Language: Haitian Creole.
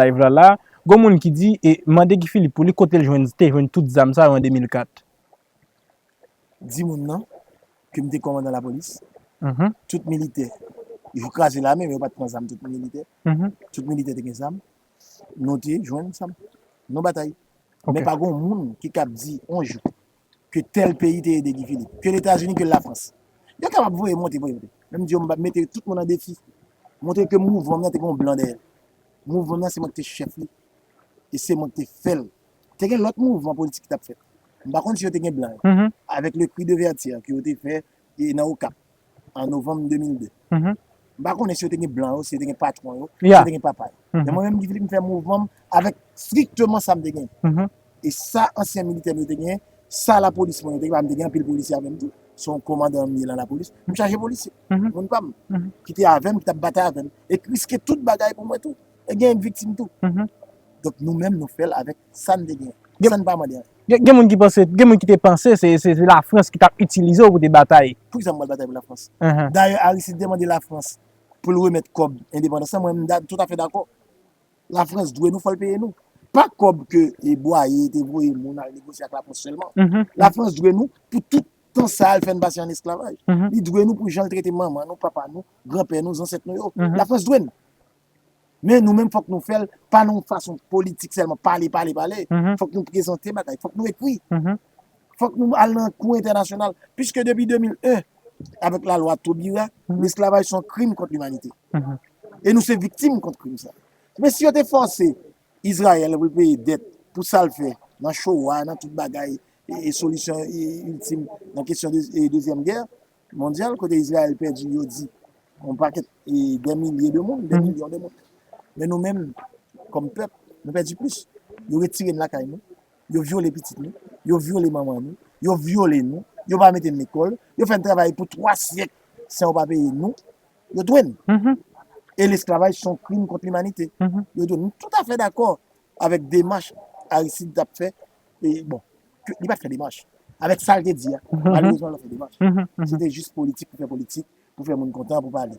live la la, gon moun ki di e mande Guy Philippe pou li kotel jwenn te jwenn tout zam sa yo an 2004. Di moun nan ke m te kòmandan lapolis, tout militè, yo kraze lame men yo pat pran zam tout militè, tout militè te gen zam, nou te jwenn zam, nou batay. Men pa gon moun ki kab di yon jou. ke tèl peyi te ede Guy Philippe, ke Letazini, ke Lafrans. Yo te ap voye monte, voye monte. Men m di yo m ap mete tout moun an defi, montre ke mouvman m nan te gen yon blan dèyè l. Mouvman m nan se mwen ki te chèf li e se mwen ki te fè l. Te gen lòt mouvman politik ki t ap fèt. M pa konn si yo te gen blan yo. Avèk le cri de vertu ke yo te fè nan Okap. an novanm 2002. M pa konnen si yo te gen blan yo, si yo te gen patwon yo, si yo te gen papa yo. Men mwen menm Guy Philippe m fè mouvman m avèk strikteman sa m te genyen. E sa ansyen militè m yo te genyen, sa lapolis mwen yo te genyen, paske m te gen anpil polisye avè m tou, se yon komandan m ye nan lapolis, m chaje polisye, moun pa m, ki te avè m, ki t ap batay avè m, e k riske tout bagay pou mwen tou. E gen viktim tou. Donk nou menm nou fèl avèk sa n te gen. Sa n pa mande anyen. Gen moun ki panse, gen moun ki te panse se Lafrans ki t ap itilize w pou te batay. Pou ki sa m pral batay pou Lafrans? Dayè Aristide te mande Lafrans pou l remèt kòb endepandans lan, mwen m toutafè dakò. Lafrans dwe nou, fò l peye nou. Pa kòb ke Bwaye te voye moun al negosye ak Lafrans sèlman. Lafrans dwe nou pou tout tan sa a l fè n pase an esklavaj. Li dwe nou pou jan l trete manman nou, papa nou, granpè nou, zansèt nou yo. Lafrans dwe n. Men nou menm fòk nou fèl pa nan yon fason politik sèlman, pale, pale, pale. Fòk nou prezante bagay, fòk nou ekri. Fòk nou al nan kou entènasyonal. Piske depi 2001, avèk la lwa Taubira, lesklavaj son krim kont limanite. E nou se viktim kont krim sa. Men si yo te fòse Izrayèl pou l peye dèt pou sa l fè nan Showa, nan tout bagay, e solisyon iltim nan kesyon dezyèm gè, Mondyal kote Izrayèl pèdi yo di yon pakèt e dè milye de moun, dè milyon de moun. Men nou menm kòm pèp nou pèdi plis. Yo retire n lakay nou, yo vyole pitit nou, yo vyole manman nou, yo vyole nou, yo pa mete n lekòl, yo fè n travay pou 3 syèk san yo pa peye nou, yo touye n. E lesklavaj son krim kont limanite. Yo touye n. M toutafè dakò avèk demach Aristide t ap fè, bon, li pa t fè demach, avèk sa l te di a, malerezman l pa t fè demach, se te jis politik pou fè politik, pou fè moun kontan, pou pale.